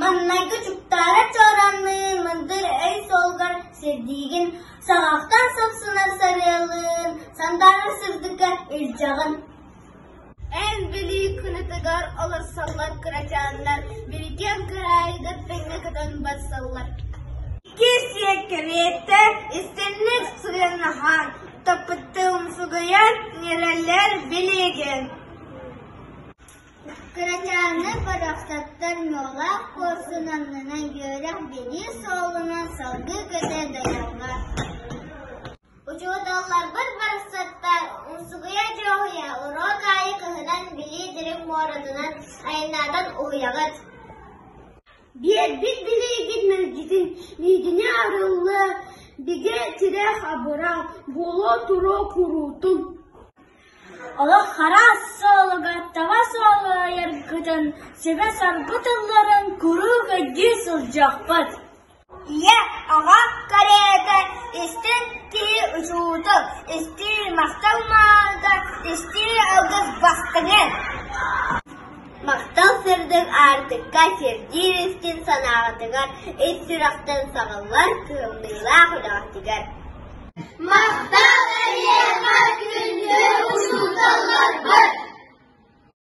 Маҥнайгы дьуктаары чооранныы мындыр өй суолугар сирдиигин, саҕахтан сапсынар сарыалыын сандаарар сырдыкка илдьэҕин. Эн билии кынатыгар олорсоллор кырачааннар Биргиэн кыраайга тэҥҥэ көтөн барсаллар. Икки сиэ кэриэтэ истинник сыгыннаһан, топпуттуу умсугуйан, ньирэлэр билиэгин. Кырачааны барахсаттар ньуолаах куорсун аннынан үөрэх-билии суолунан салгыы көтөн дайаллар. Учуоталларбыт барахсаттар умсугуйа дьуоһуйа уроок аайы кыһынан билии дириҥ муоратынан айаннаатан уһуйаҕыт. Биэрбит билиигит мэлдьитин иитинэ арылла, бигэ тирэх абыра, буолуо туруо куруутун. Олох араас суолуга табас уолайаргытын, сүбэ-соргу тылларын куруук өйдүү сылдьыахпыт. Ийэ, аҕа кэриэтэ, истин киһи учуутал, истии махтал наада, истии алгыс бастыҥы! Махтал сырдык аартыкка сирдиир истин санааҕытыгар, ис сүрэхтэн саҕыллар кыаллыылаах үлэҕитигэр! Махтал эйиэхэ күндү учууталларбыт!